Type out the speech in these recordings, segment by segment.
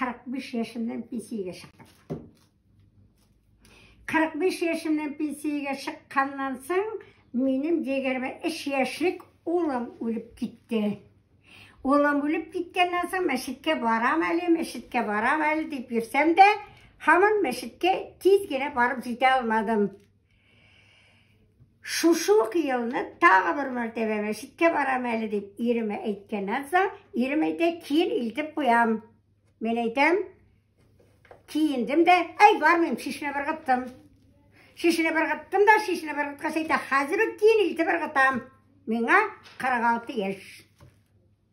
45 яшемнән пенсиягә чыктым. 45 яшемнән пенсиягә чыкканнан соң минем дегәрмә 3 яшьлек улым үлеп китте. Улым үлеп киткәннән соң мәчеткә барам әле, мәчеткә барам әле дип йөрсәм дә, һаман мәчеткә тиз генә барып җитә алмадым. Шушы ук елны тагы бер мәртәбә мәчеткә барам әле дип иремә әйткәннән соң, ирем әйтә, киен илтеп куям. Мин әйтәм, киендем дә, әй бармыйм, шешне быргыттым. Шешне быргыттым да, шешне быргыткач әйтә, хәзер үк киен илтеп ыргытам. Миңа 46 яшь.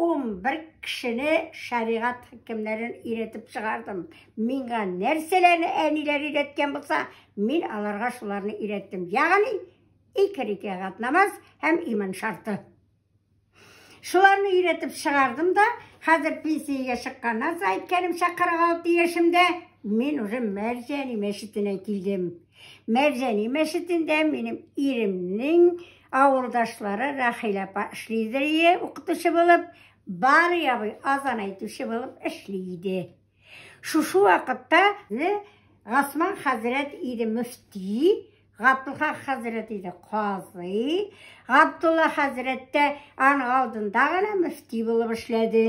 11 кешене шәригать хөкемнәрен өйрәтеп чыгардым. Миңа нәрсәләрне әниләр өйрәткән булса, мин аларга шуларны өйрәттем. Ягъни, ике рикәгать намаз һәм иман шарты. Шуларны өйрәтеп чыгардым да, хәзер пенсиягә чыкканнан соң, әйткәнемчә, 46 яшемдә мин уже Мәрҗәни мәчетенә килдем. Мәбзәни мәчетендә минем иремнең авылдашлары Рәхилә апа эшлидер ие, укытучы булып, бар ябый азан әйтүче булып эшли иде. Шушы вакытта Гасман хәзрәт иде мөфти, Габдулла хәзрәт иде казый, Габдулла хәзрәт тә аның алдында гына мөфти булып эшләде.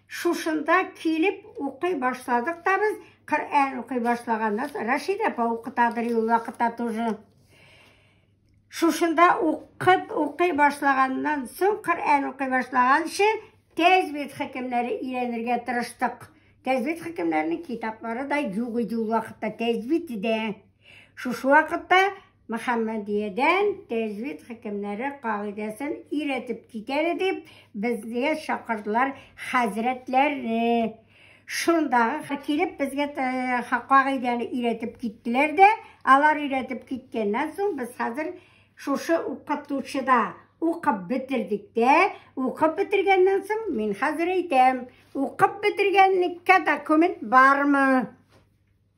Шушында килеп укый башладык та без. Коръән укый башлаганнан соң Рәшид апа укытадыр ул вакытта тоже. Шушында укып укый башлаганнан соң Коръән укый башлаганчы тәҗвид хөкемнәре өйрәнергә тырыштык. Тәҗвид хөкемнәренең китаплары да юк иде ул вакытта тәҗвид дә. Шушы вакытта Мөхәммәдиядән тәҗвид хөкемнәре кагыйдәсен өйрәтеп китәле дип, безгә чакырдылар хәзрәтләрне. Шунда килеп безгә кагыйдәне өйрәтеп киттеләр дә, алар өйрәтеп киткәннән соң без хәзер шушы укытучыда укып бетердек тә, укып бетергәннән соң мин хәзер әйтәм, укып бетергәнлеккә документ бармы?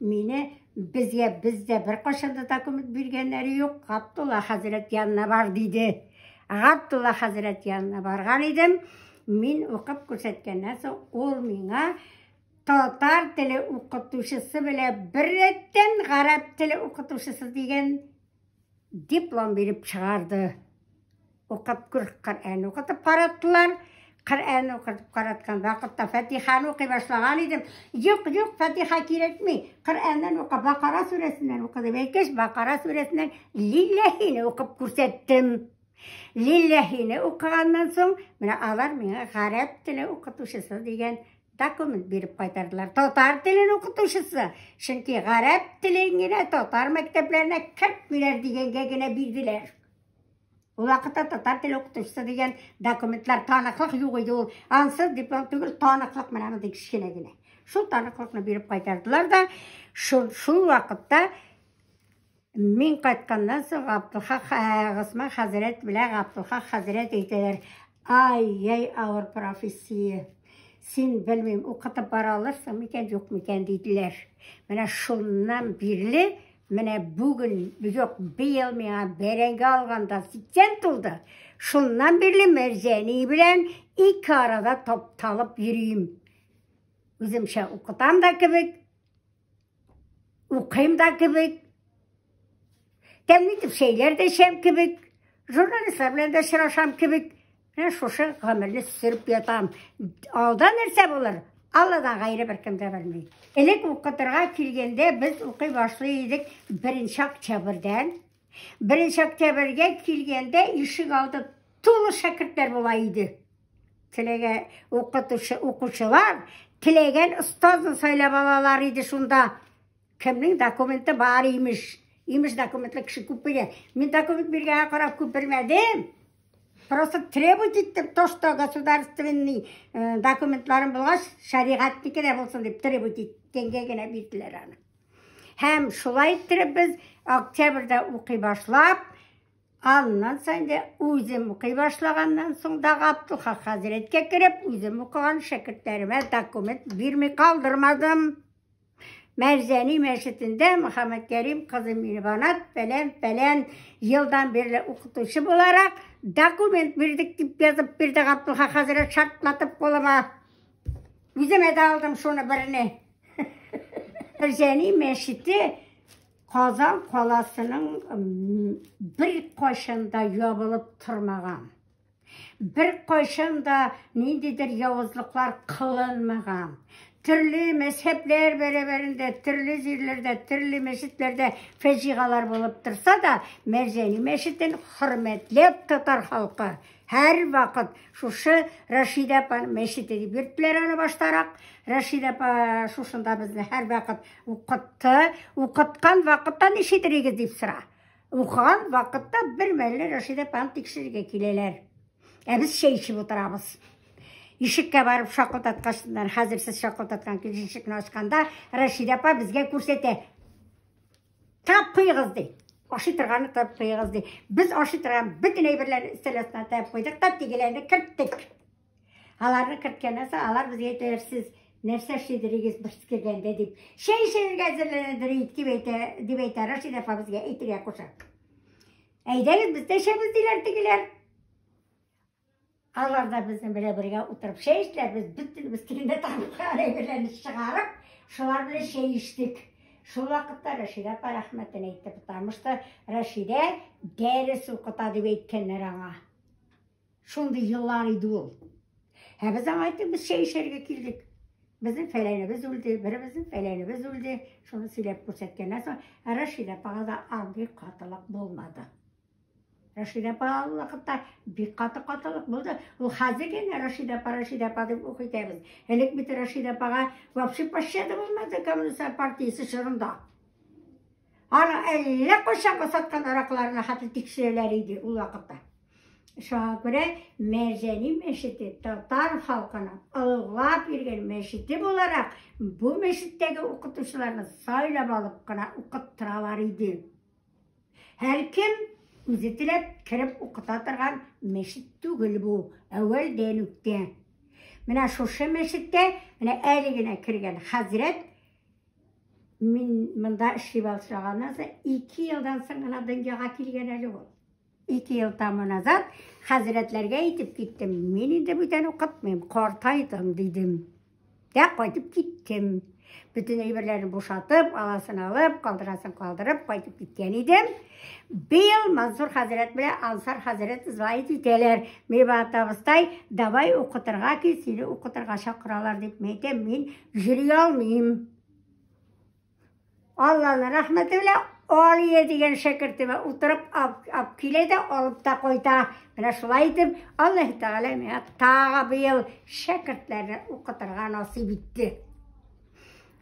Мине безгә бездә беркайчан да документ биргәннәре юк. Габдулла хәзрәт янына бар диде. Габдулла хәзрәт янына барган идем. Мин укып күрсәткәннән соң ул миңа татар теле укытучысы белән беррәттән гарәп теле укытучысы дигән Диплом биреп чыгарды. Укып күр, Коръән укытып караттылар. Коръән укытып караткан вакытта Фатиханы укый башлаган идем. Юк, юк, Фатиха кирәкми. Коръәннән ука Бакара сүрәсеннән укыды. Әйткәч, Бакара сүрәсеннән Лилләһине укып күрсәттем. Лилләһине укыганнан соң, менә алар миңа гарәп теле укытучысы дигән документ биреп кайтардылар. Татар телен укытучысы, чөнки гарәп телен генә татар мәктәпләренә кертмиләр дигәнгә генә бирделәр. Ул вакытта татар теле укытучысы дигән документлар таныклык юк иде ул. Ансыз диплом түгел, таныклык менә мондый кечкенә генә. Шул таныклыкны биреп кайтардылар да, шул, шул вакытта Мин кайтканнан соң Габдулхак Госман хәзрәт белән Габдулхак хәзрәт әйтәләр, ай, яй авыр профессия. Син белмим, укытып бара алырсың микән, юк микән диделәр. Менә шуннан бирле, менә бүген, юк, быел миңа бәрәңге алганда 80 тулды. Шуннан бирле Мәрҗәни белән ике арада тапталып йөрим. Үземчә укытам да кебек, Укыйм да кебек. Тәмле итеп чәйләр дә эчәм кебек. Журналистлар белән дә очрашам кебек. Менә шушы гомерне сөреп ятам. Алда нәрсә булыр? Алладан гайре беркем дә белми. Элек укытырга килгәндә без укый башлый идек 1 октябрьдән. 1 октябрьгә килгәндә ишек алды тулы шәкертләр була иде. Теләгә укытучы укучылар теләгән остазын сайлап алалар иде шунда. Кемнең документы бар имеш. Имеш документлы кеше күп бирә. Мин документ биргәнгә карап күп бирмәдем. Просто требовать иттем, то, что государственный э, документларын булгач, шәригатьнеке дә булсын дип требовать иткәнгә генә бирделәр аны. Һәм шулай иттереп без октябрьдә укый башлап, Аннан соң инде үзем укый башлаганнан соң да Габдулха хәзрәткә кереп, үзем укыган шәкертләремә документ бирми калдырмадым. Мәрзәни мәчетендә Мөхәммәд Кәрим кызы Мирбанат фәлән фәлән елдан бирле укытучы буларак документ бирдек дип язып бирде Габдулха хәзрәт шартлатып кулыма. Үзем әдә алдым шуны берне. Мәрзәни мәчете Казан каласының бер кайшында ябылып тормаган. Бер кайшында ниндидер явызлыклар кылынмаган. Төрле мәзһәбләр бәрәбәрендә, төрле җирләрдә, төрле мәчетләрдә фәҗигалар булып торса да, Мәрҗәни мәчетен хөрмәтләп татар халкы Һәр вакыт шушы Рәшидә апа мәчете дип йөрттеләр аны баштарак. Рәшидә апа шушында безне һәр вакыт укытты. Укыткан вакытта ничетерегез дип сора. Укыган вакытта бер мәлле Рәшидә апаны тикшерергә киләләр. Ә без чәй эчеп утырабыз. Ишеккә барып шакылдаткачтан, хәзер сез шакылдаткан килеш ишекне ачканда, Рәшидә апа безгә күрсәтә. Тап куегыз ди. Ашый торганны тап куегыз ди. Без ашый торган бөтен әйберләрне өстәл астына тап куйдык та тигеләрне керттек. Аларны керткәннән соң алар безгә әйтәләр, сез нәрсә эшлидерегез бер кергәндә дип. Чәй эчәргә әзерләнәдер дип әйтә, дип әйтә Рашид апа безгә әйтергә куша. Әйдәгез, без дә эчәбез диләр тегеләр. Алар да безнең белән бергә утырып чәй эчтеләр, без бөтенебез тегендә табылган әйберләрне чыгарып, шулар белән чәй эчтек. Шул вакытта Рәшидә апа рәхмәтен әйтте, потому что Рәшидә дәрес укыта дип әйткәннәр аңа. Шундый еллар иде ул. Ә без аңа әйттек, без чәй эчәргә килдек. Безнең фәләнебез үлде, беребезнең фәләнебез үлде. Шуны сөйләп күрсәткәннән соң, Рәшидә апага да андый катылык булмады. Рәшидә апа ул вакытта бик каты катылык булды. Ул хәзер генә Рәшидә апа, Рәшидә апа дип ук итәбез. Элек бит Рәшидә апага вообще пощада булмады коммунист партиясе чорында. Аны әллә кайчан басаткан аракларына хәтта тикшерәләр иде ул вакытта. Шуңа күрә Мәрҗәни мәчете татар халкының олылап йөргән мәчете буларак бу мәчеттәге укытучыларны сайлап алып кына укыттыралар иде. Һәркем үзе теләп кереп укыта торган мәчет түгел бу, әүвәлдән үк тә. Менә шушы мәчеттә, менә әле генә кергән хәзрәт мин монда эшли башлаганнан соң ике елдан соң гына дөньяга килгән әле ул. Ике ел тамы назад хәзрәтләргә әйтеп киттем, мин инде бүтән укытмыйм, картайдым дидем. Дә кайтып киттем. Бөтен әйберләрен бушатып, аласын алып, калдырасын калдырып, кайтып киткән идем. Быел Мансур хәзрәт белән Ансар хәзрәт звонить итәләр. Миба табыстай, давай укытырга кил, сине укытырга чакыралар дип. Мин әйтәм, мин йөри алмыйм. Алланы рәхмәте белән Алия дигән шәкертемә утырып ап килә дә алып та кайта. Менә шулай итеп, Аллаһ Тәгалә миңа тагы быел шәкертләрне укытырга насыйп итте.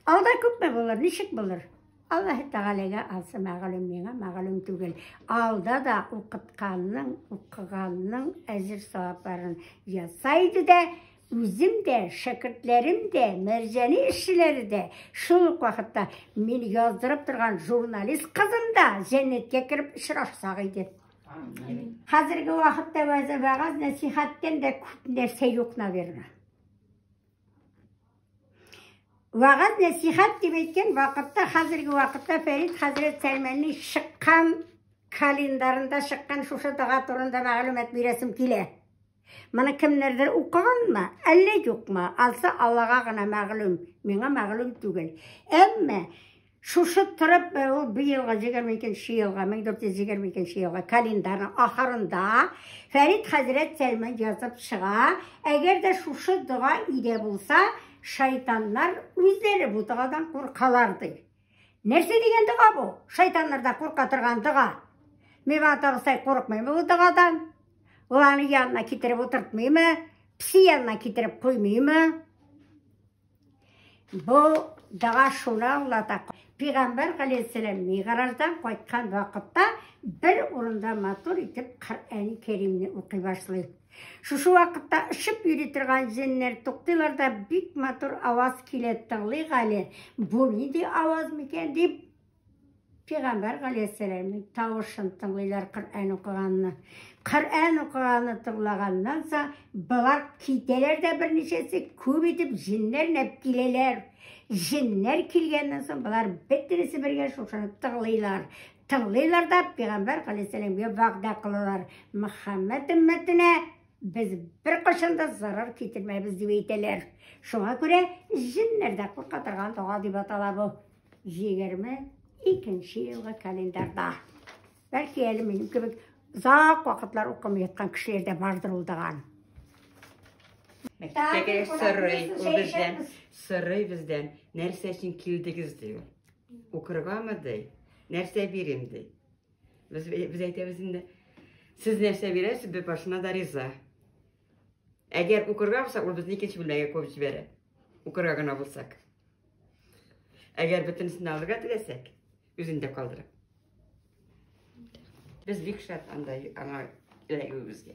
Алда күпме булыр, ничек булыр? Аллаһ Тәгаләгә алса мәгълүм, миңа мәгълүм түгел. Алда да укытканның, укыганның әҗер савапларын ясайды да Үзем дә, шәкертләрем дә, мәрҗәни эшчеләре дә, шул ук вакытта мин яздырып торган журналист кызым да җәннәткә кереп очрашсак иде. Хәзерге вакытта вәгазь нәсихәттән дә күп нәрсә юк, наверное. Вәгазь нәсихәт дип әйткән вакытта, хәзерге вакытта Фәрид хәзрәт Сәлмәнни чыккан календарында чыккан шушы дога турында мәгълүмат бирәсем килә. Моны кемнәрдер укыганмы, әллә юкмы? Алса Аллага гына мәгълүм, миңа мәгълүм түгел. Әмма шушы торып ул бу елга 22 елга 1422 елга календарның ахырында Фәрид хәзрәт Сәлман язып чыга. Әгәр дә шушы дога идә булса, шайтаннар үзләре бу догадан куркалар ди. Нәрсә дигән дога бу? Шайтаннарда курка торган дога. Мин аны тагысай курыкмыйм бу догадан. Ул аны янына китереп утыртмыймы? Пси янына китереп куймыймы? Бу дога шуны аңлата. Пигамбар галәйһиссәлам мигъраждан кайткан вакытта бер урында матур итеп Коръән Кәримне укый башлый. Шушы вакытта очып йөри торган җеннәр туктыйлар да бик матур аваз килә тыңлый Гали. Бу нинди аваз микән дип Пәйгамбәр галәйһиссәламның тавышын тыңлыйлар Коръән укыганны. Коръән укыганны тыңлаганнан соң болар китәләр дә берничәсе күп итеп җеннәр нәп киләләр. Җеннәр килгәннән соң болар бөтенесе бергә шушыны тыңлыйлар. Тыңлыйлар да пигамбәр галәйһиссәламгә вәгъдә кылалар. Мөхәммәд өммәтенә без бер кашан да зарар китермәбез дип әйтәләр. Шуңа күрә җеннәр дә курка торган дога дип атала бу. 22 елгы календарда. Бәлки әле минем кебек озак вакытлар укымый яткан кешеләр дә бардыр ул доган. Мәктәпкә сорый ул бездән, сорый бездән, нәрсә өчен килдегез ди ул. Укыргамы ди? Нәрсә бирим ди? Без без әйтәбез инде. Сез нәрсә бирәсез, без башына да риза. Әгәр укырга булса, ул безне икенче бүлмәгә куып җибәрә. Укырга гына булсак. Әгәр бөтенесен алырга теләсәк, үзен дә калдыра. Без бик шат анда аңа эләгүебезгә.